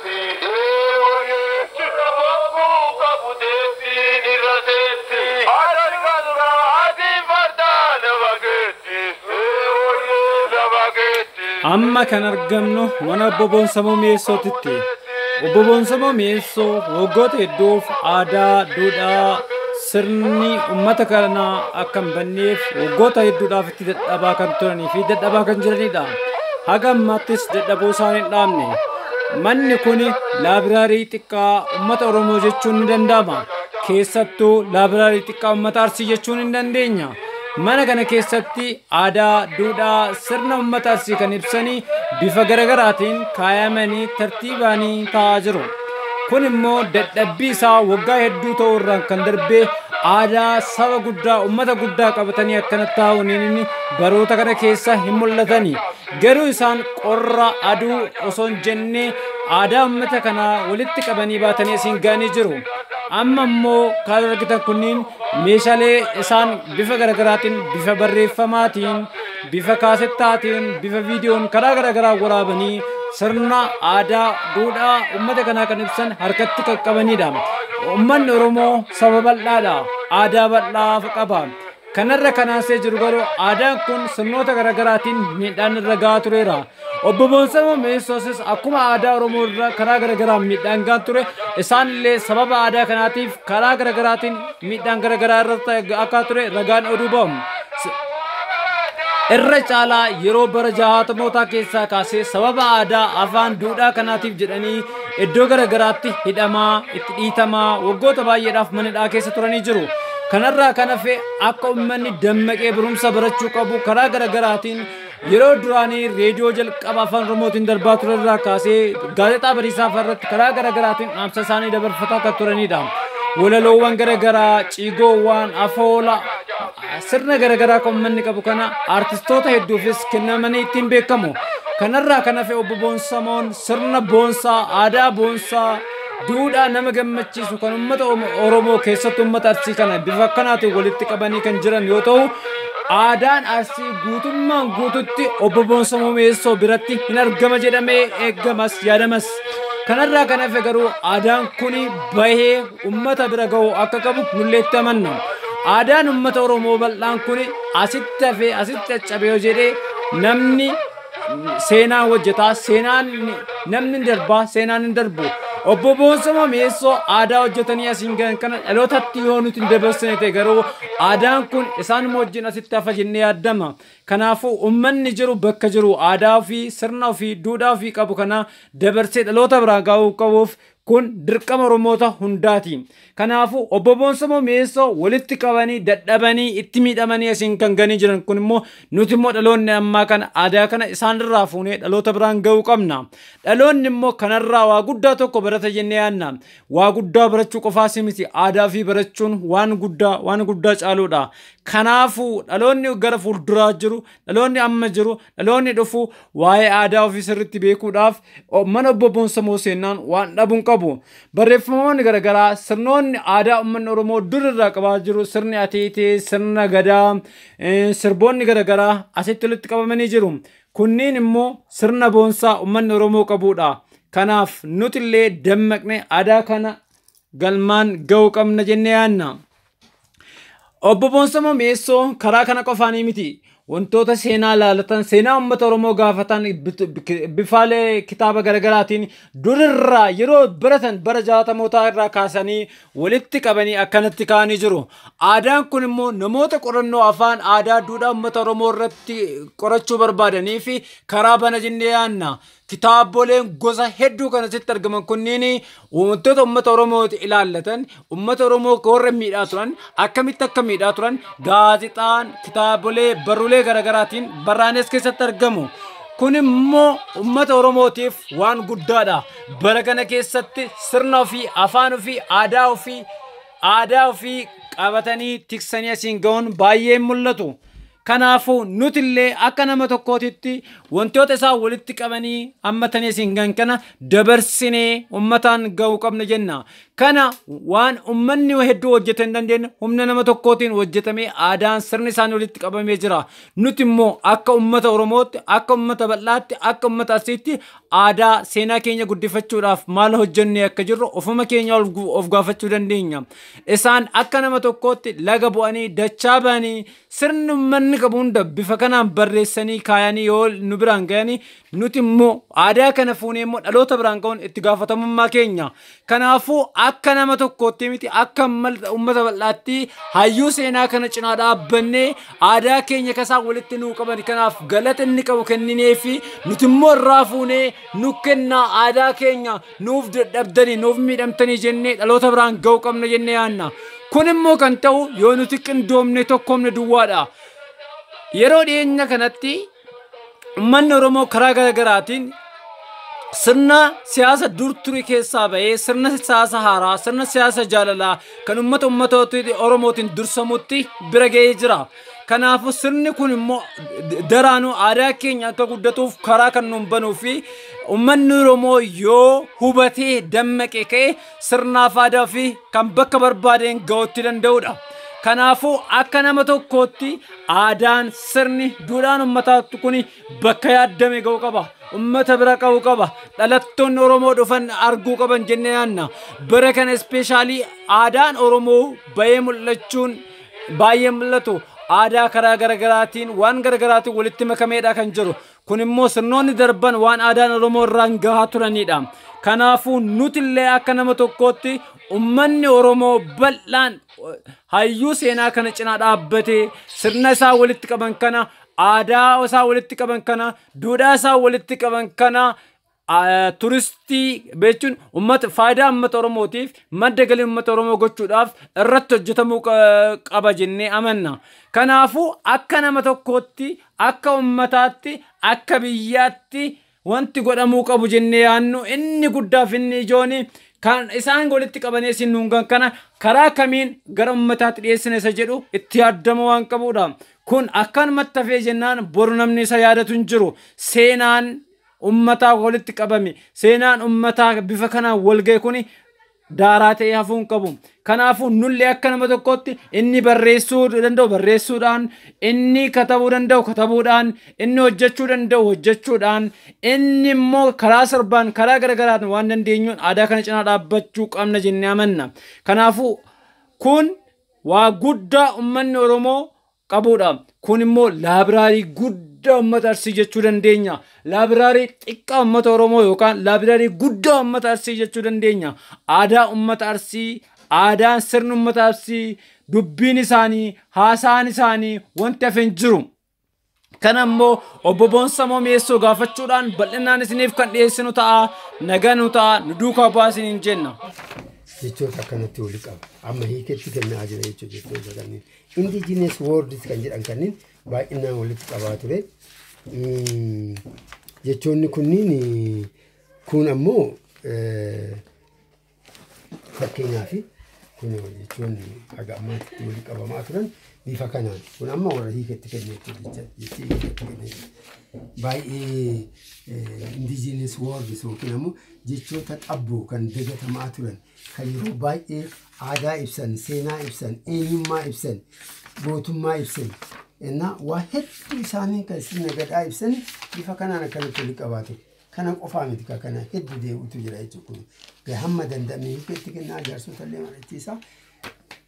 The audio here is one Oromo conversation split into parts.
Fiidee warrichi bobbuu qabu deettiin irra teetti. Adan galga atii fardaa nama keetti. Ee warree nama keetti. Amma kan argamnu mana Obbo Boonsamoo Mi'eessootitti. Obbo Boonsamoo Mi'eessoo waggoota hedduuf aadaa, duudhaa, sirni uummata kanaa akka hin banneef waggoota hedduudhaaf itti dadhabaa kan turanii fi dadhabaa kan jiranidha. Haga ammaattis dadhabuu isaan hin dhaabne. Manni kun laabiraarii xiqqaa uummata Oromoo jechuun ni danda'ama. Keessattuu laabiraarii xiqqaa uummata Arsii jechuun hin dandeenya. Mana kana keessatti aadaa, duudhaa, sirna uummata Arsii kan ibsanii bifa garagaraatiin kaayamanii tartiibaanii taa'aa jiru. Kun immoo dadhabbii isaa waggaa hedduu ta'uu irraan kan darbee aadaa saba guddaa uummata guddaa qabatanii akkana taa'uun inni baroota kana keessa hin mul'atani. Garuu isaan qorra, aduu osoo hin jenne aadaa uummata kanaa walitti qabanii baatanii asiin ga'anii jiru. Amma immoo kan argitan kunniin meeshaalee isaan bifa garaagaraatiin, bifa barreeffamaatiin, bifa kaasettaatiin, bifa viidiyoon karaa garaagaraa waraabanii sirna aadaa, duudhaa uummata kanaa kan ibsan harkatti qaqqabanidha. Uummanni Oromoo saba bal'aadha. Aadaa bal'aa qaba. Kanarra kan aansee jiru garuu aadaan kun sirnoota garaagaraatiin miidhaan irra gahaa tureera. Obbo Boonsamoo Mi'eessoosis akkuma aadaa Oromoo irra karaa garaagaraan miidhaan gahaa ture isaanillee sababa aadaa kanaatiif karaa garaagaraatiin miidhaan garaagaraa irratti gahaa ture ragaan oduu ba'u. Irra caalaa yeroo bara jahaatamootaa keessaa kaasee sababa aadaa afaan duudhaa kanaatiif jedhanii Iddoo gara garaatti hidhamaa, itti dhiitamaa, waggoota baay'eedhaaf mana hidhaa keessa turanii jiru. Kanarraa kan hafe akka uummanni dammaqee barumsa barachuu qabu karaa gara garaatiin yeroo duraanii reediyoo jalqaba afaan Oromootiin darbaa ture irraa kaasee gaazexaa bariisaa fa'a irratti karaa gara garaatiin dhaamsa isaanii dabarfataa kan turanidha. Walaloowwan gara garaa, ciigoowwan, afoola, sirna gara garaa kan uummanni qabu kana artistoota hedduufis kennamanii ittiin beekamu. Kanarraa kan hafe obbo Boonsamoon Sirna boonsaa, aadaa boonsaa, duudhaa nama gammachiisu kan uummata Oromoo keessatti uummata Arsii kana bifa akkanaatiin walitti qabanii kan jiran yoo ta'u, aadaan Arsii guutummaan guututti obbo Boonsa Muumeessoo biratti hin argama jedhamee eeggamas yaadamas. Kanarraa kan hafe garuu aadaan kun bahee uummata bira ga'uu akka qabu nullee itti amanna. Aadaan uummata Oromoo bal'aan kun asitti hafee asitti caccabee yoo jedhee namni seenaan hojjetaa seenaan namni hin darbaa seenaan hin darbu obbo Boonsoo Mameessoo aadaa hojjetanii asiin gahan kana dhalootatti yoo nuti hin dabarsine ta'e garuu aadaan kun isaan wajjin asitti hafa jennee yaaddama kanaafuu ummanni jiru bakka jiru aadaa ofii sirna ofii duudhaa ofii qabu kana dabarsee dhaloota biraa gaa'uu qabuuf Kun dirqama Oromoota hundaati. Kanaafuu Obbo Boonsamoo Mi'eessoo walitti qabanii dadhabanii itti miidhamanii asiin kan ganii jiran kun immoo nuti immoo dhaloonni ammaa kana aadaa kana isaanirraa fuunee dhaloota biraan ga'uu qabna. Dhaloonni immoo kanarraa waa guddaa tokko barata jennee yaadna. Waa guddaa barachuu qofaas miti aadaa fi barachuun waan guddaa waan guddaa caaluudha. Kanaafuu dhaloonni gara fuulduraa jiru Dhaloonni amma jiru, dhaloonni dhufu waa'ee aadaa ofii sirriitti beekuudhaaf mana obbo Boonsamoo seennaan waan dhabu hin qabu. Barreeffamoonni garaagaraa sirnoonni aadaa uummanni Oromoo dur irraa qabaa jiru sirni ateetee, sirna gadaa, sirboonni garaagaraa asitti walitti qabamanii jiru. Kunniin immoo sirna boonsaa uummanni Oromoo qabudha. Kanaaf nuti illee dammaqnee aadaa kana galmaan ga'uu qabna jennee yaadna. Obbo Boonsamoo Mi'eessoo karaa kana qofaanii miti. Wantoota seenaa laalatan, seenaa uummata Oromoo gaafatan bifaalee kitaaba garaagaraatiin durirraa yeroo baratan bara jaatamootaa irraa kaasanii walitti qabanii akkanatti kaa'anii jiru. Aadaan kun immoo namoota qorannoo afaan aadaa duudhaa uummata Oromoo irratti qorachuu barbaadanii fi karaa bana jennee yaanna. Kitaaboleen gosa hedduu kan asitti argaman kunniin wantoota uummata Oromooti ilaallatan, uummata Oromoo warra miidhaa turan, akkamitti akka miidhaa turan, gaazexaan, kitaabolee, barruulee garaagaraatiin barraa'anii as keessatti argamu. Kun immoo uummata Oromootiif waan guddaadha. Bara kana keessatti sirna ofii, afaan ofii, aadaa ofii, aadaa ofii qabatanii tiksanii asiin ga'uun baay'ee hin mul'atu. Kanaafuu, nuti illee akka nama tokkootitti wantoota isaan walitti qabanii hammatanii isin gan kana dabarsinee ummataan ga'uu qabna jenna. Kana waan ummanni hedduu hojjete hin dandeenye humna nama tokkootiin hojjetamee aadaan sirni isaanii walitti qabamee jira. Nuti immoo akka ummata Oromootti, akka ummata bal'aatti, akka ummata Arsiitti aadaa seenaa keenya guddifachuudhaaf maal hojjennee akka jirru ofuma keenya ol gu- of gaafachuu dandeenya. Isaan akka nama tokkootti laga bu'anii dachaa ba'anii Sirni ummanni qabu hunda bifa kanaan barreessanii kaayanii yoo nu biraan gayani nuti immoo aadaa kana fuunee immoo dhaloota biraan ga'uun itti gaafatamummaa keenya. Kanaafuu akka nama tokkootti miti akka uummata bal'aatti hayyuu seenaa kana cinaa dhaabbannee aadaa keenya kasaan walitti nuu qaban kanaaf galata inni qabu kenninee fi nuti immoo irraa fuunee nu kennaa aadaa keenya nuuf dadhabdanii nuuf miidhamtanii jennee dhaloota biraan ga'uu qabna jennee yaanna. Kun immoo kan ta'u yoo nuti qindoomne tokkoomne duwwaadha. Yeroo dhiyeenya kanatti uummanni Oromoo karaa gara garaatiin sirna siyaasa dur ture keessaa ba'ee sirna siyaasa haaraa sirna siyaasa jaalalaa kan uummata uummatoota Oromootiin dursamutti bira ga'ee jira. Kanaafuu sirni kun immoo daraanuu aadaa keenya akka guddatuuf karaa kan nuun banuu fi uummanni Oromoo yoo hubatee dammaqee ka'e sirnaaf aadaa fi kan bakka barbaadeen ga'uutti danda'udha. Kanaafuu akka nama tokkootti aadaan sirni duudhaan uummataa kun bakka yaaddame ga'uu qaba. Uummata bira ga'uu qaba. Dhalattoonni Oromoo dhufan arguu qaban jennee yaadna. Bara kana ispeeshaalii aadaan Oromoo bahee mul'achuun baay'ee mul'atu aadaa karaa garagaraatiin waan garagaraatiin walitti makameedha kan jiru. Kun immoo sirnoonni darban waan aadaan Oromoo irraan gahaa turanidha. Kanaafuu nuti illee akka nama tokkootti ummanni Oromoo bal'aan hayyuu seenaa kana cinaa dhaabbatee sirna isaa walitti qaban kana aadaa isaa walitti qaban kana duudhaa isaa walitti qaban kana turistii jechuun ummata faayidaa ummata Oromootiif madda galii ummata Oromoo gochuudhaaf irratti hojjetamuu qaba jennee amanna. Kanaafuu akka nama tokkootti, akka ummataatti, akka biyyaatti wanti godhamuu qabu jennee yaannu inni guddaaf inni ijoon kan isaan walitti qabanee isin nuungan kana karaa kamiin gara ummataatti dhiyeessina isa jedhu itti yaaddama waan qabuudha. Kun akkanumatti hafee jennaan boru namni isa yaadatu hin jiru. Seenaan ummataa walitti qabame seenaan ummataa bifa kanaan walga'e kuni daaraa ta'ee hafuu hin qabu. Kanaafuu nullee akka nama tokkootti inni barreessuu danda'u barreessuudhaan, inni katabuu danda'u katabuudhaan, inni hojjechuu danda'u hojjechuudhaan, inni immoo karaa sirbaan karaa garaagaraan waan dandeenyuun aadaa kana cinaa dhaabbachuu qabna jennee amanna. Kanaafuu kun waa guddaa ummanni Oromoo qabuudha. Kun immoo laabiraarii guddaa uummata Arsii jechuu dandeenya. Laabiraarii xiqqaa uummata Oromoo yookaan laabiraarii guddaa uummata Arsii jechuu dandeenya. Aadaa uummata Arsii, aadaan sirni uummata Arsii, dubbiin isaanii, haasaan isaanii wanti hafe hin jiru. Kana immoo obbo Boonsamoo Mi'eessoo gaafachuudhaan bal'inaan isiniif kan dhiyeessinu ta'a. Nagaa nu ta'a, nu duukaa bu'aa isiniin jenna. jechoota akkanatti wali qaba. Amma hiiketti kennaa jira jechuudha jechoota kanneen. Indigenous words kan jedhan kanniin baay'inaan walitti qabaa ture. Mm, Jechoonni kunniin eh, kun ammoo eh, fakkeenyaaf kun jechoonni haga ammaatti walitti qabamaa turan bifa kanaan kun amma warra hiika itti kenne jechuudha jecha- jechi hiika itti kenne jechuudha. baay'ee indigenous words yookiin ammoo jechoota qabboo kan dagatamaa turan kan yeroo baay'ee aadaa ibsan, seenaa ibsan, eenyummaa ibsan, gootummaa ibsan እና waa hedduu isaanii kan sirna gadaa ibsan bifa kanaan akkanatti walitti qabaatu. Kana qofaa miti ka kana hedduu deemutu jira jechuudha kun. Ga- Hamma danda'ame hiika itti kennaa jaarsota illee mari'achiisaa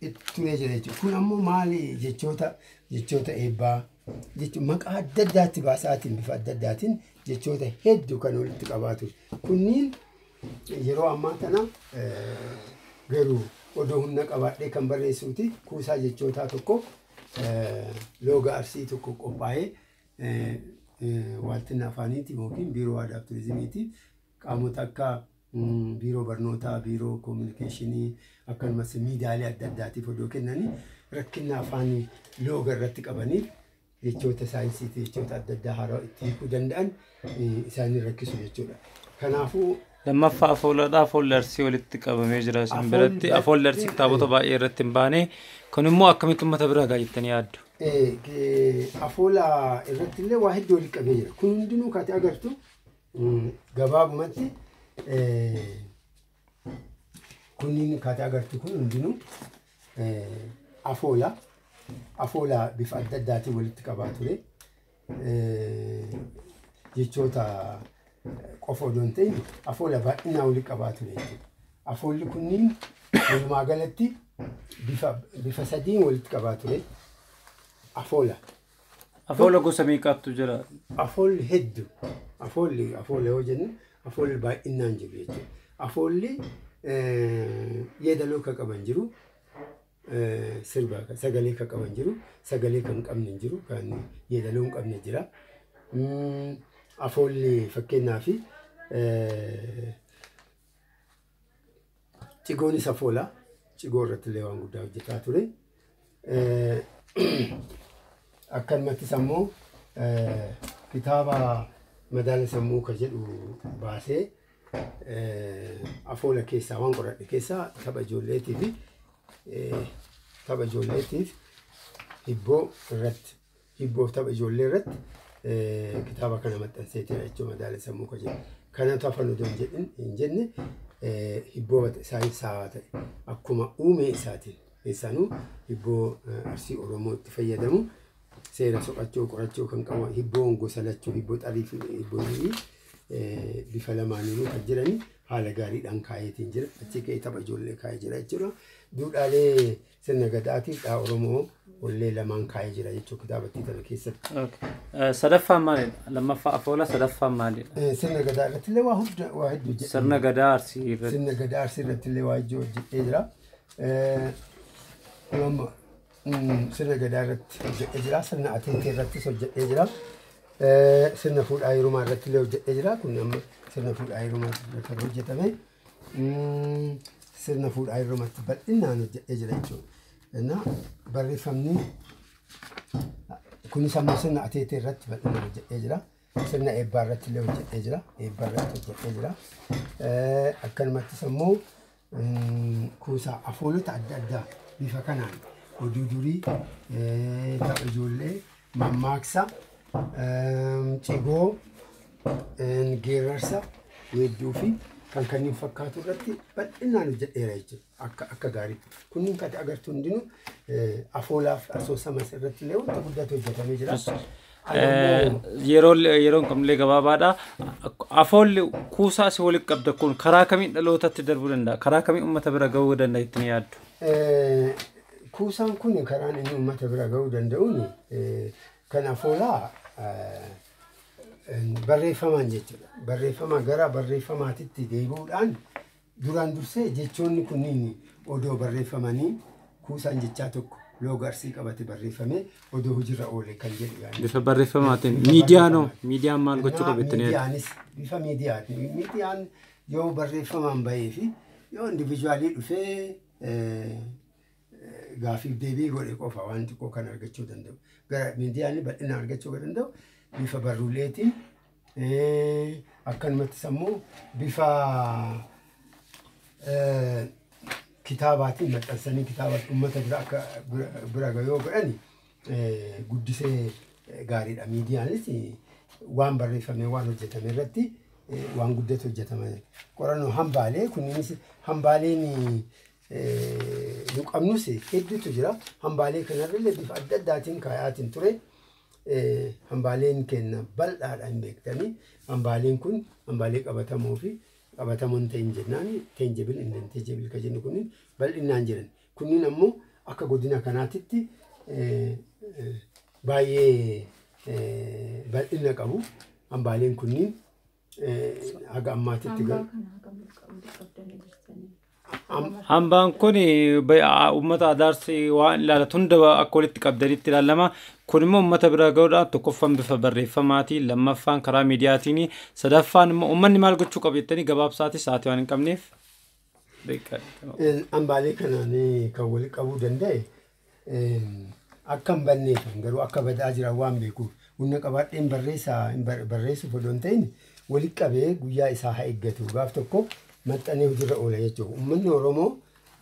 itti turee jira jechuudha. Kun ammoo maali jechoota jechoota eebbaa jechuun maqaa adda addaatti baasaatiin bifa adda addaatiin jechoota hedduu kan walitti qabaatu. Kunniin Yeroo ammaa tana garuu odoo humna qabaadhee kan barreessuuti kuusaa jechootaa tokko looga arsii tokko qophaa'ee waaltina afaaniitiin yookiin biiroo aadaa fi turizimiitiin qaamota akka biiroo barnootaa, biiroo koominikeeshinii akkanumas miidiyaalee adda addaatiif odoo kennanii rakkinna afaanii looga irratti qabaniif jechoota saayinsiitii jechoota adda addaa haaraa itti hiikuu danda'an isaanii rakkisu jechuudha. Kanaafuu Lammaffaa afooladha. Afoolli arsii walitti qabamee jira isin biratti. Afoolli arsii kitaabota baay'ee irratti hin baane. Kun immoo akkamitti uummata bira ga'a jettanii yaaddu? Afoola irratti illee waa hedduu walitti qabamee jira. Kun hundinuu kaati agartu gabaabumatti Kunniin akkaataa agartu kun hundinuu afoola. Afoola bifa adda addaatiin walitti qabaa ture. Jechoota qofa odoo hin ta'in afoola baay'inaa walitti qabaa ture jechuudha. Afoolli kunniin walumaa galatti bifa sadiin walitti qabaa ture. Afoola. Afoola gosa meeqaattu jira? Afoolli heddu. Afoolli afoola yoo jennu afoolli baay'inaan jiru jechuudha. Afoolli eh, yeedaloo kan qaban jiru, eh, sirba kan- sagalee kan qaban jiru, sagalee kan hin qabne hin jiru, kan yeedaloo hin qabne jira. Mm, Afoolli fakkeenyaaf eh, Cigoon isa foola. Cigoo irratti illee waan guddaa hojjetaa ture. Akkanumattis ammoo kitaaba madaala sammuu ka jedhu baasee afoola keessaa waan qoradhe keessaa tapha ijoolleetii fi tapha ijoolleetiif hibboo irratti Hibboof tapha ijoollee irratti kitaaba kana maxxansee jira jechuun madaala sammuu ka jedhu. Kanatu hafan odoo hin jenne hibboo saayinsaawaa ta'e akkuma uumee isaatiin keessanuu hibboo arsii Oromoo itti fayyadamu seera soqachuu qorachuu kan qabu hibboon gosa lachuu hibboo xarii fi hibboo durii bifa lamaaniinuu kan jiranii haala gaariidhaan kaayeetiin jira. Achi ka'ee tapha ijoollee kaa'ee jira jechuudha. Duudhaalee Sirna Gadaatiif dhaa Oromoo wallee lamaan kaa'ee jira jechuun kitaabattii tana keessatti. Okay. Eh, Sadaffaan maalidha? Lammaffaa afoola sadaffaan maalidha? Eh, Sirna Gadaa irratti illee waa hunda waa hedduu jedhe. Sirna gadaa arsii irratti. Sirna Gadaa Arsii irratti illee waa ijoo hojjetee jira. Eh, amma, mm, Sirna Gadaa irratti hojjetee jira. Sirna Ateetee irrattis hojjetee jira. Eh, Sirna Fuudhaa Heerumaa irratti illee hojjetee jira. Kun amma sirna Fuudhaa Heerumaa irratti kan hojjetame. mm, sirna fuudhaa irrumatti bal'inaan hojjedhee jira jechuudha. Innaa barreeffamni kunis ammoo sirna ateetee irratti bal'inaan hojjedhee jira. Sirna eebbaa irratti illee hojjedhee jira. Eebbaa irratti hojjedhee jira. Eh, Akkanumattis ammoo mm, kuusaa afoolota adda addaa bifa kanaan oduu durii eh, tapha ijoollee Mammaaksa, cigoo, geerarsa, weedduu fi kan kanneen fakkaatu irratti bal'inaan hojjedheera jechuudha. Akka akka gaariitti. Kunniin kan agartu hundinuu eh, afoolaaf asoosamas irratti illee wanta guddaatu hojjetamee jira. Ani ammoo- Yeroo yeroon kamillee gabaabaadha. Afoolli kuusaa si walitti qabda kun karaa kamiin dhalootatti darbuu danda'a? Karaa kamiin uummata bira ga'uu danda'a ittiin yaaddu? Eh, Kuusaan kun karaan inni uummata bira ga'uu danda'uun kan afoolaa barreeffamaan jechuudha. Barreeffama gara barreeffamaatitti deebi'uudhaan duraan dursee jechoonni kunniin odoo barreeffamanii kuusaan jechaa tokko looga arsii qabate barreeffamee odoo hojiirra oole kan jedhu yaadni. Bifa barreeffamaatiin Bifa miidiyaan hoo barreeffamaan. miidiyaan maal gochuu Kanaaf qabu jettanii yaaddu? miidiyaanis bifa miidiyaatiin miidiyaan yoo barreeffamaan bahee fi yoo individuaalii dhufee gaafiif deebii godhe qofa waan xiqqoo kan argachuu danda'u. Gara miidiyaan bal'ina argachuu kan danda'u bifa barruuleetiin akkanumattis ammoo bifa kitaabaatiin maxxansanii kitaabaatiin uummata bira akka bira gayoo godhani guddisee gaariidha. Miidiyaanis waan barreeffame waan hojjetame irratti waan guddatu hojjetama. Qorannoo hambaalee kunis hambaaleen nu qabnus hedduutu jira. Hambaalee kanarrallee bifa adda addaatiin kaayaatiin ture. Hambaaleen keenya bal'aadha hin beektanii. Hambaaleen kun hambaalee qabatamoo fi qabatamoo hin ta'in jennaan teenjebil hin ta'in teenjebil kan jennu kun bal'inaan jiran. Kunniin ammoo akka godina kanaatitti baay'ee bal'inna qabu. Hambaaleen kunniin haga ammaatitti Hambaa garuu kana hagam ol qabuu dadhabdanii jirtanii? Am- Nama Hambaan kun uummata adaarsi waan ilaalatu hunda akka walitti qabdanitti ilaalama. Kun immoo uummata bira ga'uudhaaf tokkoffaan bifa barreeffamaatiin, lammaffaan karaa miidiyaatiin, sadaffaan immoo uummanni maal gochuu qaba jettanii gabaabsaatii sa'aatii waan hin qabneef. beekaa Een, Hambaalee kanaan eh, kan walitti qabuu danda'e een, akka hin banneef garuu akka badaa jiran waan beekuuf humna qabaadheen barreessaa hin bar- barreessuuf odoo hin ta'in walitti qabee guyyaa isaa haa eeggatu gaaf tokko maxxanee hojiirra oola jechuudha. Uummanni Oromoo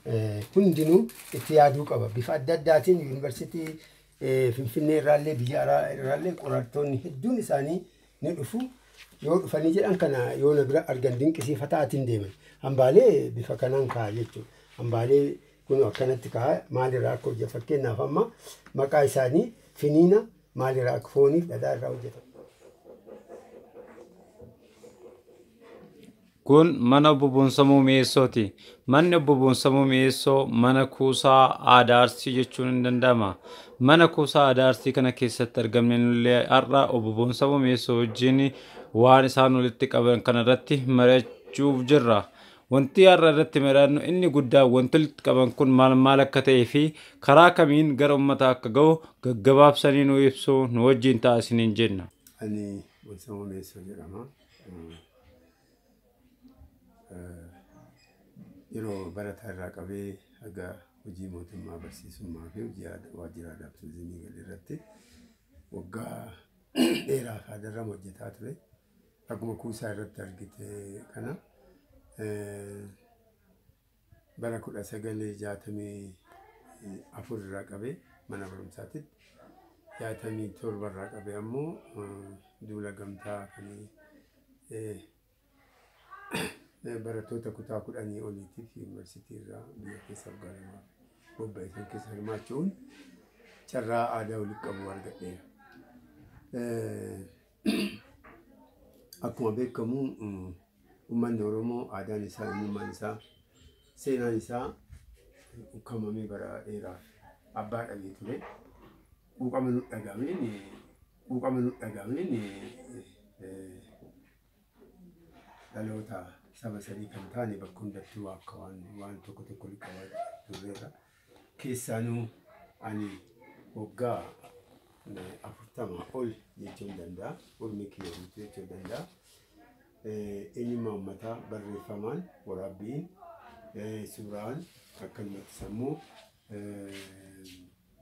eh, hundinuu itti yaaduu qaba. Bifa adda addaatiin yuunivarsiitii eh, Finfinnee irraallee biyya alaa irraallee qorattoonni hedduun isaanii ni dhufu. Yoo dhufanii jedhan kana yoo na bira argan dinqisiifataa atiin deeman. Hambaalee bifa kanaan ka'a jechuudha. Hambaalee kun akkanatti ka'a maalirraa akka hojjetu fakkeenyaaf amma maqaa isaanii finiina maalirraa akka fooniif dhadhaa irraa hojjetama. Kun mana Obbo Boonsamuu Mi'eessooti. Manni Obbo Boonsamuu Mi'eessoo mana kuusaa aadaa Arsii jechuun ni danda'ama. Mana kuusaa aadaa Arsii kana keessatti argamne nullee har'a Obbo Boonsamuu Mi'eessoo wajjin waan isaan walitti qaban kana irratti mari'achuuf jirra. Wanti har'a irratti mari'annu inni guddaan wanti walitti qaban kun maal maal akka ta'ee fi karaa kamiin gara uummataa akka ga'u gaggabaabsanii nuu ibsu nu wajjin ta'a isiniin jenna. Ani Boonsamuu Mi'eessoo jedhama. Yeroo barataa irraa qabee haga hojii mootummaa barsiisummaa fi hojii aad- waajjira aadaa fi turizimii gale irratti waggaa dheeraa fi haadarram hojjetaa ture. Akkuma kuusaa irratti argite kana eh, Bara 1964 irraa qabee mana barumsaatitti, 67 irraa qabee ammoo duula gamtaa kan barattoota kutaa kudhanii oliitiif yuunivarsiitii irraa biyya keessaaf gaaramaa bobba'e san keessa hirmaachu'uun carraa aadaa walitti qabu argadheera. Akkuma beekamu uummanni Oromoo aadaan isaa, eenyummaan isaa, seenaan isaa ukkamamee bara dheeraaf abbaa dhabee ture. Quuqama nu dhagahameen quuqama nu dhagahameen dhaloota saba sadii kan taane bakka hundattuu akka waan waan tokko tokko liqaa turreerra. Keessaanuu ani waggaa eh, afurtama ol jechuun danda'a. Urmii kiyya guutuu jechuun danda'a. Eh, Eenyummaa uummataa barreeffamaan, waraabbiin, eh, suuraan akkanumatti sammuu eh,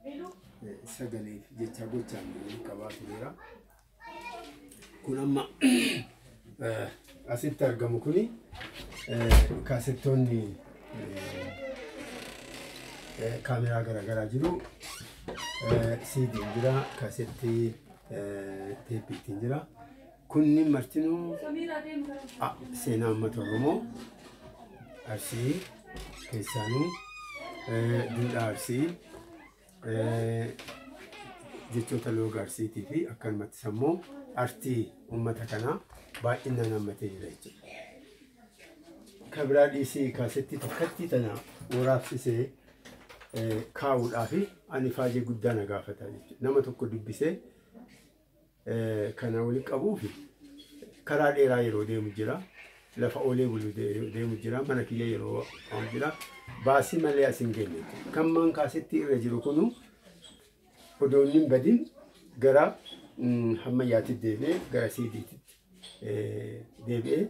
eh, sagaleef jecha gochaan waliin qabaa tureera. kun amma eh, asitti argamu kuni eh, kaasettoonni eh, eh, kaameraa garaagaraa jiru eh, siidiin jira kaasettii eh, teeppii ittiin jira kunni martinuu ah, seenaa uummata oromoo arsii keessaanuu eh, duudhaa arsii jechoota looga arsiitii fi akkanumatti sammuu artii uummata kanaa baay'inaan hammatee jira jechuudha. Kan biraa dhiisii kaasettii takkattii tana waraabsisee kaa'uudhaaf ani faajee guddaa na gaafata jechuudha. Nama tokko dubbisee kana wali qabuuf karaa dheeraa yeroo deemu jira. Lafa oolee bulu deemu jira. Mana kiyya yeroo qabu jira. Baasii malee as hin geenye. Kan maan kaasetti irra jiru kunu odoo inni hin badin gara hammayyaatti deebi'ee gara siidiitti deebi'ee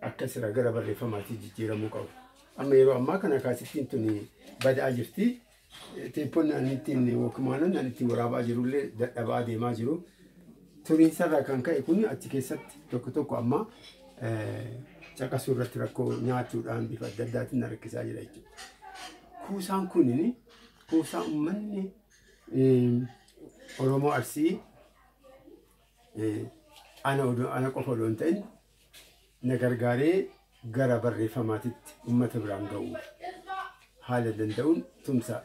akka sira gara barreeffamaatti jijjiiramuu qabu. Amma yeroo ammaa kana kaasittiin tuni badaa jirti. Teeppoon ani ittiin wookimaanan ani ittiin waraabaa jirullee dadhabaa deemaa jiru. Turiinsarraa kan ka'e kun achi keessatti tokko tokko amma caqasuu irratti rakkoo nyaachuudhaan bifa adda addaatiin na rakkisaa jira jechuudha. Kuusaan kun kuusaa uummanni Oromoo Arsii ana qofa odoo hin ta'in na gargaaree gara barreeffamaatitti ummata biraan ga'uu haala danda'uun tumsa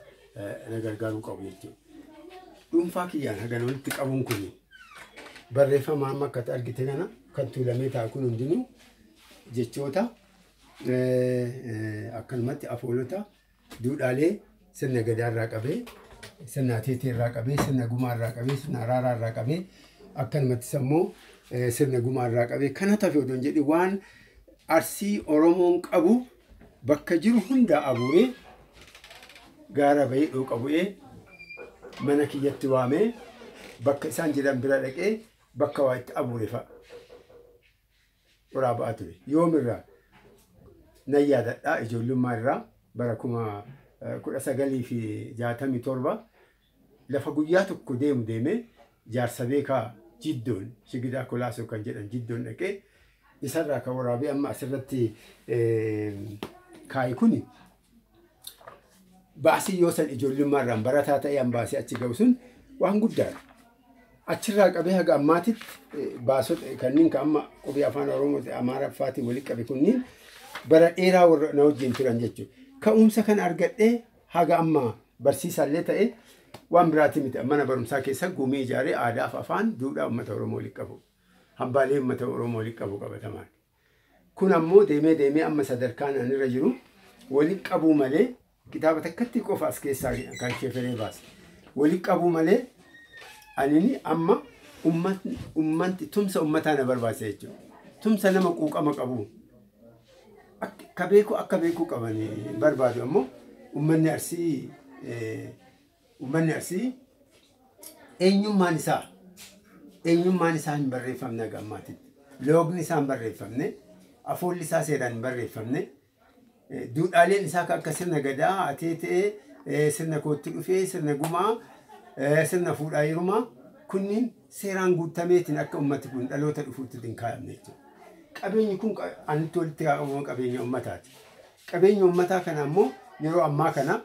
na gargaaruu qabu jechuudha. Dhuunfaa kiyyaan hagana walitti qabuun kun barreeffama amma akkati argite kana kan tuulamee taa'u kun hundinuu jechoota akkanumatti afoolota Duudhaalee sirna Gadaa irraa qabee, sirna Ateetee irraa qabee, sirna Gumaa irraa qabee, sirna Araaraa irraa qabee, akkanumattis ammoo sirna Gumaa irraa qabee kan hatafe odoo hin jedhin waan Arsii Oromoon qabu bakka jiru hundaa abuuree gaara bahee dhooqa bu'ee mana kiyyatti waamee bakka isaan jedhan bira dhaqee bakka waa itti abuure fa'a. qoraa ba'aa ture. Yoom irraa? Nan yaadadha ijoollummaa irraa bara kuma eh, kudha sagalii fi jaatamii torba lafa guyyaa tokko deemu deemee jaarsa beekaa jiddoon sigidaa kolaasoo kan jedhan jiddoon dhaqee isarraa kan waraabee amma asirratti eh, kaa'i kuni Baasii yoo san ijoollummaarraan barataa ta'ee an baasee achi ga'u sun waan guddaadha. Achirraa qabee haga ammaatitti eh, baasota eh, kanneen kan amma qubee afaan Oromoo Amaaraffaatiin walitti qabe kunniin bara dheeraa warra na wajjin turan jechuudha. Ka'umsa kan argadhee haga amma barsiisaallee ta'e waan biraatii miti. Mana barumsaa keessa gumii ijaaree aadaaf afaan duudhaa uummata Oromoo walitti qabu. Hambaalee uummata Oromoo walitti qabu qabatamaan. Kun ammoo deemee deemee amma sadarkaan an irra jiru walitti qabuu malee kitaaba takkatti qofa as keessaa kan sheferee baase. Walitti qabuu malee anini amma ummatni ummanti tumsa ummataa na barbaachisa jechuudha. Tumsa nama quuqama qabu akka ka beeku akka beekuu qabani barbaadu ammoo ummanni Arsii eh, Uummanni Arsii eenyummaan isaa eenyummaan isaa hin barreeffamne haga ammaatitti. Loogni isaa hin barreeffamne, afoolli isaa seeraan hin barreeffamne, eh, duudhaaleen isaa kan akka sirna gadaa, ateetee, eh, sirna kootti dhufee, sirna gumaa, eh, sirna fuudhaa heerumaa kunniin seeraan guutameetiin akka uummati kun dhaloota dhufuutti hin kaa'amne jechuudha. Qabeenyi kun qa- anitti walitti qabama qabeenya uummataati. Qabeenya uummataa kana ammoo yeroo ammaa kana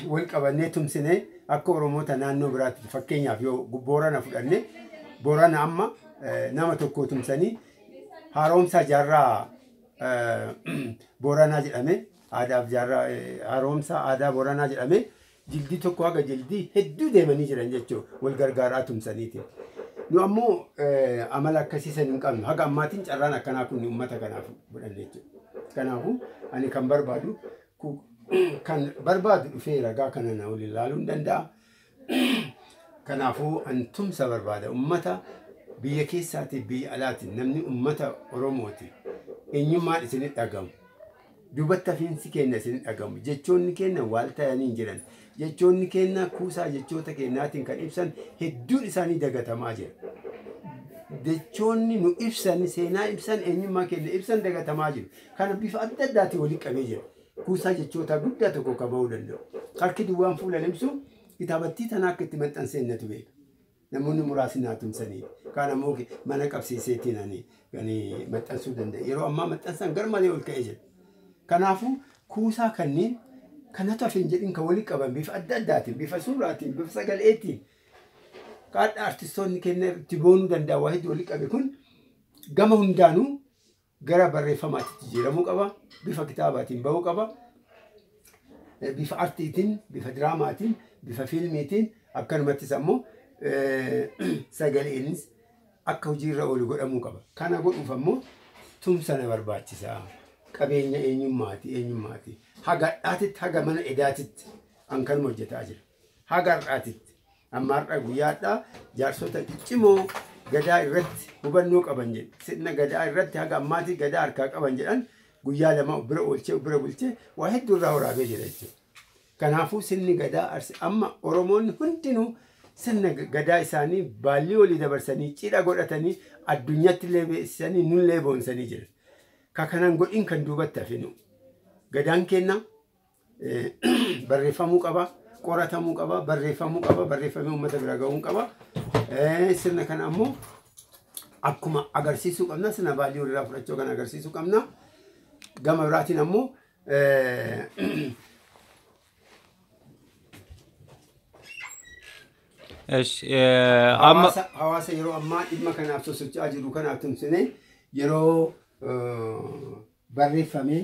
wal qabannee tumsinee akka Oromoota naannoo biraatti fakkeenyaaf yoo Boorana fudhanne Boorana amma eh, nama tokko tumsanii haaromsaa jaarraa eh, Booranaa jedhame aadaaf jaarraa eh, haaromsaa aadaa Booranaa jedhame jildii tokko haga jildii hedduu deemanii jiran jechuudha wal gargaaraa tumsaniiti. Nu ammoo eh, amala akkasii san hin qabnu haga ammaatiin carraan akkanaa kun uummata kanaaf godhan jechuudha. Kanaafuu ani kan barbaadu ku- kan barbaadu dhufee ragaa kana na waliin ilaaluu hin danda'a. Kanaafuu an tumsa barbaada ummata biyya keessaati biyya alaati namni ummata Oromooti eenyummaan isin dhagamu duubatti hafiinsi keenya isin dhagamu jechoonni keenya waal ta'anii hin jiran Jechoonni keenna kuusaa jechoota keennaatiin kan ibsan hedduun isaanii dagatamaa jira. Jechoonni nu ibsan, seenaa ibsan, eenyummaa keenna ibsan dagatamaa jiru. Kana bifa adda addaatiin walitti qabee jira. Kuusaa jechootaa guddaa tokko qaba'uu danda'u. Harki duwwaan fuula hin ibsu, kitaabattii tana akka itti maxxanseen natu beeka. Namoonni muraasni naa tumsaniiru. Kaan ammoo mana qabsiiseetiin ani kan maxxansuu danda'e. Yeroo ammaa maxxansaan gar malee ol ka'ee jira. Kanaafuu kuusaa kanneen kanatu hafe hin jedhin kan walitti qaban bifa adda addaatiin, bifa suuraatiin, bifa sagaleetiin kaadha artistoonni kenna itti boonuu danda'a waa hedduu walitti qabe kun gama hundaanuu gara barreeffamaatti jijjiiramuu qaba. Bifa kitaabaatiin ba'uu qaba. Eh, Bifa artiitiin, bifa diraamaatiin, bifa fiilmiitiin akkanumattis ammoo eh, sagaleenis akka hojiirra oolu godhamuu qaba. Kana godhuuf ammoo tumsa na barbaachisa. Qabeenya eenyummaati, eenyummaati. Haga dhaatitti, haga mana edaatitti an kanuma hojjetaa jira. Haga har'aatitti amma har'a guyyaadhaa jaarsota ciccimoo gadaa irratti hubannoo qaban jedhe sirna gadaa irratti haga ammaatii gadaa harkaa qaban jedhan guyyaa lama of bira oolchee of bira bulchee waa hedduu irraa waraabee jira jechuudha. Kanaafuu sirni gadaa arsi amma Oromoonni hundinuu sirna g- gadaa isaanii baallii olii dabarsanii cidha godhatanii addunyatti illee beeksisanii nullee boonsanii jiran. Ka kanan godhin kan duubatti hafinu. Gadaan keenya barreeffamuu qaba, qoratamuu qaba, barreeffamuu qaba, barreeffamee uummata bira ga'uun qaba. Sirna kana ammoo akkuma agarsiisuu qabna, sirna baallii walirraa fudhachuu kan agarsiisuu qabna. Gama biraatiin ammoo amma hawaasa yeroo ammaa dhimma kanaaf sosocho'aa jiru kanaaf tumsinee yeroo barreeffamee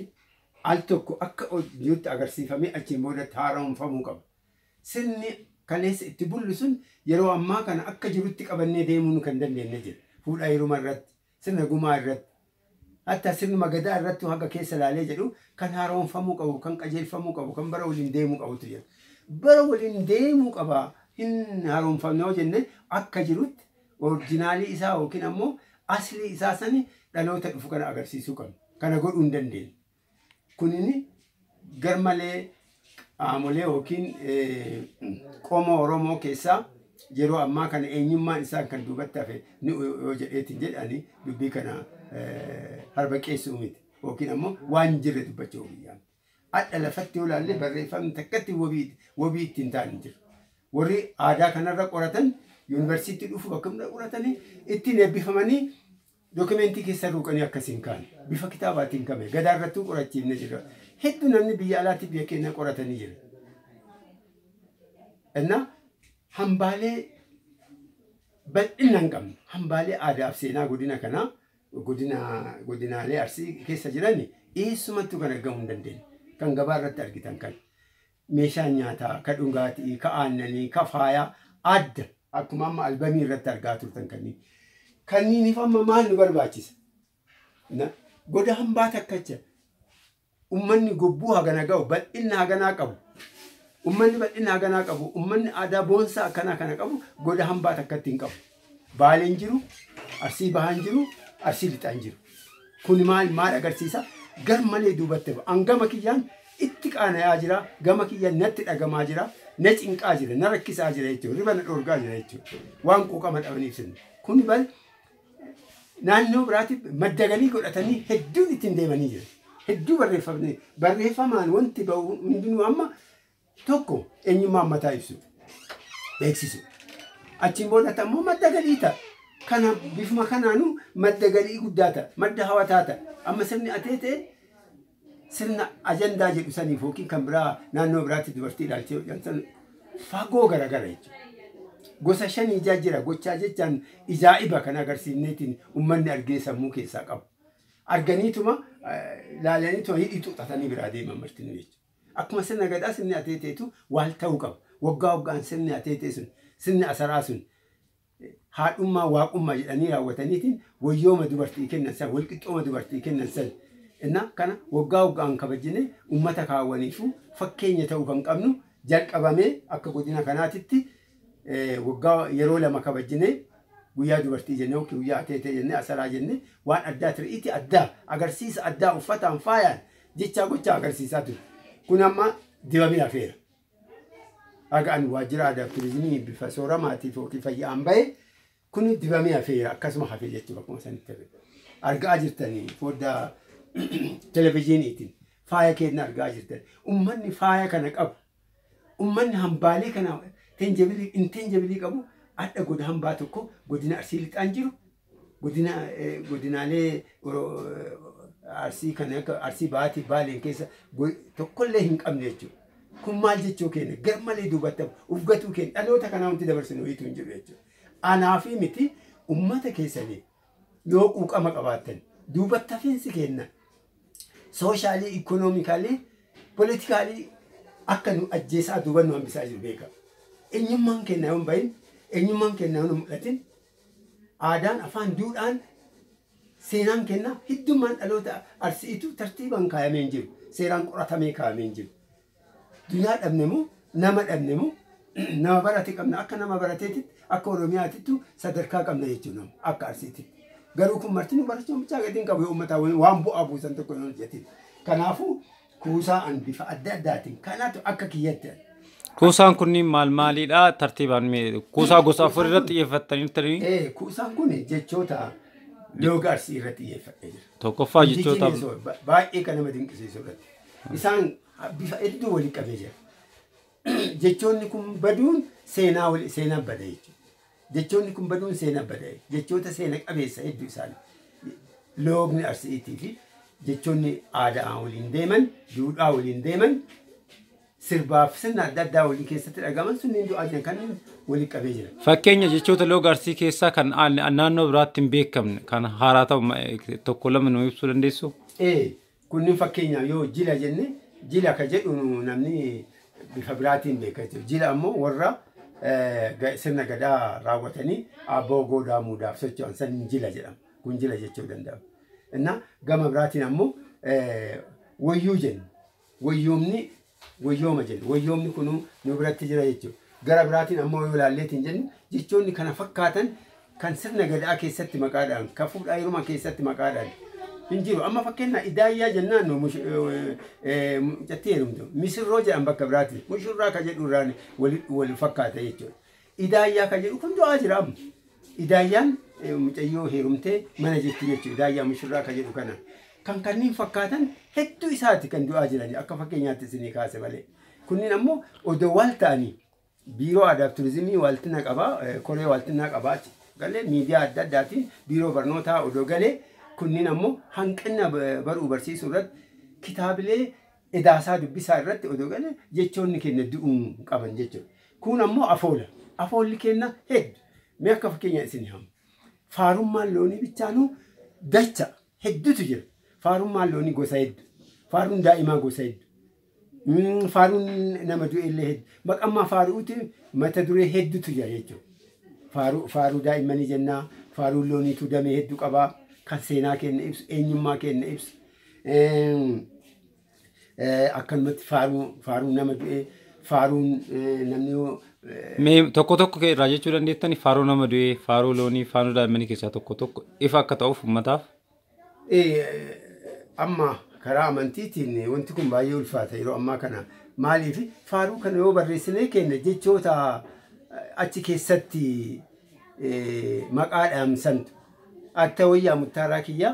al tokko akka hojiitti agarsiifamee achiin boodatti haara'oomfamuu qaba. Sirni kaleessa itti bullu sun yeroo ammaa kana akka jirutti qabannee deemuu nu kan dandeenye jira. Fuudha heeruma irratti, sirna gumaa irratti, hattaa sirnuma gadaa irrattuu haga keessa ilaalee jedhu kan haara'oomfamuu qabu, kan qajeelfamuu qabu, kan bara waliin deemuu qabutu jira. Bara waliin deemuu qaba hin haara'oomfamne yoo jenne akka jirutti Orijinaalii isaa yookiin ammoo aslii isaa sani dhaloota dhufu kana agarsiisuu qabna. Kana godhuu hin dandeenye. Kunini garmalee qaamolee yookiin qomoo Oromoo keessaa yeroo ammaa kana eenyummaan isaan kan duubatti hafe ni yoo jedheetiin jedhe ani dubbii kana harbaqeessuu miti. Yookiin ammoo waan hin jirre dubbachuu biyyaamti. Hadha lafatti yoo laalle barreeffamni takkatti wabii wabii itti hin taane hin jiru. Warri aadaa kanarra qoratan yuunivarsiitti dhufu bakka hunda qoratanii ittiin eebbifamanii dookimentii keessa ruuqanii akkas hin kaane. Bifa kitaabaatiin kame gadaa irrattuu qorachiifne jira. Hedduu namni biyya alaatti biyya keenya qoratanii jira. Innaa hambaalee bal'inna hin qabne hambaalee aadaa fi seenaa godina kanaa godina godinaalee arsii keessa jiran eessumattuu kan argamu hin dandeenye. Kan gabaa irratti argitan kan meeshaa nyaataa, ka dhugaatii, ka aannanii, ka faayaa adda akkuma amma albamii irratti argaa turtan kanneen. Kanniiniif amma maal nu barbaachisa? Na- Goda hambaa takkacha ummanni gobbuu hagana ga'u, bal'inna haganaa qabu, ummanni bal'inna haganaa qabu, ummanni aadaa boonsaa akkanaa kana qabu goda hambaa takkatti hin qabu. Baalee hin jiru, Arsii Bahaa hin jiru, Arsii Lixaa hin jiru. Kuni maal maal agarsiisa? Gar malee duubatti hafa. An gama kiyyaan itti qaana'aa jira, gama kiyyaan natti dhagamaa jira, na cinqaa jira, na rakkisaa jira jechuudha, hirriba na dhoorgaa jira jechuudha. Waan quuqama dhabaniif sirni. Kuni bar naannoo biraatti madda galii godhatanii hedduun ittiin deemanii jiru. Hedduu barreeffamne barreeffamaan wanti ba'u hundinuu amma tokko eenyummaa ummataa ibsu beeksisu. Achiin boodatti ammoo madda galii ta'a. Kana bifuma kanaanuu madda galii guddaa ta'a. Madda hawataa ta'a. Amma sirni atee ta'e Sirna ajandaa jedhu saniif yookiin kan biraa naannoo biraatti dubartii ilaalchee hojjan san fagoo garagara jechuudha. Gosa shan ijaa jira gochaa jechaan ijaa'iba kan agarsiifneetiin ummanni argee sammuu keessaa qabu. Arganiituma laalaniituma hidhii xuxatanii biraa deeman martinuu jechuudha. Akkuma sirna gadaa sirni ateeteetu waal ta'uu qaba. Waggaa waggaan sirni ateetee sun sirni asaraa sun haadhummaa waaqummaa jedhanii raawwataniitiin wayyooma dubartii kennan san walqixxooma dubartii kennan san inna kana waggaa waggaan kabajjine ummata kaawwaniifu fakkeenya ta'uu kan qabnu jalqabamee akka godina kanaatitti waggaa yeroo lama kabajjine guyyaa dubartii jenne yookiin guyyaa ateetee jenne asaraa jenne waan addaa tiri'iitii addaa agarsiisa addaa uffataan faayaan jechaa gochaa agarsiisaa ture kun amma dibamee hafeera. Haga ani waajjira aadaa fi turizimii bifa sooramaatii fookii fayyaan bahe kun dibamee hafeera akkasuma hafee jechuudha akkuma sanitti hafe. Argaa jirtanii foddaa televizyiiniitiin faaya keenya argaa jirtan. Ummanni faaya kana qabu. Ummanni hambaalee kana tenjabilii intenjabilii qabu adda goda hambaa tokko godina arsii lixaan jiru Godina godinaalee Arsii kan akka Arsii Bahaatiif Baaleen keessa tokkollee hin qabne jechuudha. Kun maal jechuu keenya garmalee duubatti uf gatuu keenya dhaloota kanaa wanti dabarsinu hiitu hin jiru jechuudha. Anaafii miti uummata keessaniif yoo quuqama qabaattan duubatti hafiinsi keenya sooshaalii, ikoonoomikaalii, politikaalii akka nu ajjeesaa duuba nu hambisaa jiru beeka. Eenyummaan keenya yoo hin bahin, eenyummaan keenya yoo hin mul'atin Aadaan, afaan, duudhaan, seenaan kenna hiddummaan dhaloota Arsi'iitu tartiibaan kaayamee hin jiru. Seeraan qoratamee kaayamee hin jiru. Dunyaa dhabne moo nama dhabne moo nama barate qabna akka nama barateetitti akka Oromiyaatittu sadarkaa qabna jechuudha nama akka Arsiititti. Garuu kun martinuu barachuun bichaa gadi hin qabu yoo uummataa waan bu'aa buusan tokko hin hojjetin. Kanaafuu kuusaa an bifa adda addaatiin kanatu akka kiyyatti an. Kuusaan kunniin maal maaliidha? Tartiibaan mee kuusaa gosa afur irratti xiyyeeffattaniirtanii? Ee, kuusaan kun jechoota looga arsii irratti xiyyeeffadhee jira. Tokkoffaa jechoota Indigenous word, ba- baay'ee kan nama dinqisiisu irratti. Isaan bifa hedduu walitti qabee jira. Jechoonni kun baduun seenaa wali- seenaa bada jechuudha. Jechoonni kun baduun seenaa bada jechoota seena qabeessa hedduu isaanii loogni Arsi'iitii fi jechoonni aadaa waliin deeman, duudhaa waliin deeman, sirbaaf sirna adda addaa waliin keessatti dhagaman sunniin du'aa jiran kan waliin qabee jira. Fakkeenya jechoota looga Arsii keessaa kan naannoo biraatti hin beekamne kan haaraa ta'u tokko lama nu ibsuu dandeessu? Ee, Kunnin fakkeenyaaf yoo jila jenne jila ka jedhuun namni bifa biraatiin beeka jechuudha. Jila ammoo warra sirna gadaa raawwatanii aabboo goodaa muudaaf socho'an saniin jila jedhama. Kun jila jechuu danda'ama. Innaa gama biraatiin ammoo wayyuu jenna. Wayyoomni woyyooma jenna. Woyyoomni kunuu nu biratti jira jechu. Gara biraatiin ammoo yoo ilaalleetiin jennu jechoonni kana fakkaatan kan sirna Gadaa keessatti maqaadhaan, kan fuudhaa heerumaa keessatti maqaadhaan hin jiru. Amma fakkeenyaa Idaayyaa jennaan nu mush- eh, eh, mucattii heerumtu. Misirroo jedhan bakka biraatiin. Mushurraa ka jedhu irraan wal, wal fakkaata jechuudha. Idaayyaa kan jedhu kun du'aa jira amma. Idaayyaan mucayyoo heerumtee mana jirti jechuudha. Idaayyaa mushurraa kan jedhu kana. Kan kanneen fakkaatan hedduu isaati kan du'aa jirani akka fakkeenyaatti isinii kaase malee. Kunniin ammoo odoo waal ta'anii biiroo aadaaf turizimii waaltina qabaa koree waaltinaa qabaa achi galee miidiyaa adda addaatiin biiroo barnootaa odoo galee kunniin ammoo hanqina baruu barsiisuu irratti kitaabilee Edaasaa dubbisaa irratti odoo galee jechoonni keenna du'uu hin qaban jechuudha. Kuun ammoo afoola. Afoolli keenna heddu. Mee akka fakkeenyaa isinii hama. Faarummaan loonii bichaanuu dacha heddutu jira. Faarummaan loonii gosa heddu. Faaruun daa'imaa gosa heddu. Mm, Faaruun nama du'eellee heddu. Maqammaa faaru'uuti mata duree heddutu jira jechuudha. Faaruu, faaruu daa'immanii jennaa, faaruu looniitu damee heddu qabaa, kan seenaa keenna ibsu, eenyummaa keenna ibsu. Akkanumatti faaruu faaruun nama du'e faaruun namni yoo Mee tokko tokko kee irraa jechuu dandeettani faaruu nama du'ee, faaruu loonii, faaruu daa'immanii keessaa tokko tokko ifa akka ta'uuf uummataaf. amma karaa amantiitiin wanti kun baay'ee ulfaata yeroo ammaa kana maaliif faaruu kana yoo barreessinee keenya jechoota achi keessatti maqaa dhaamsantu atta wayyaa muttaaraa kiyyaa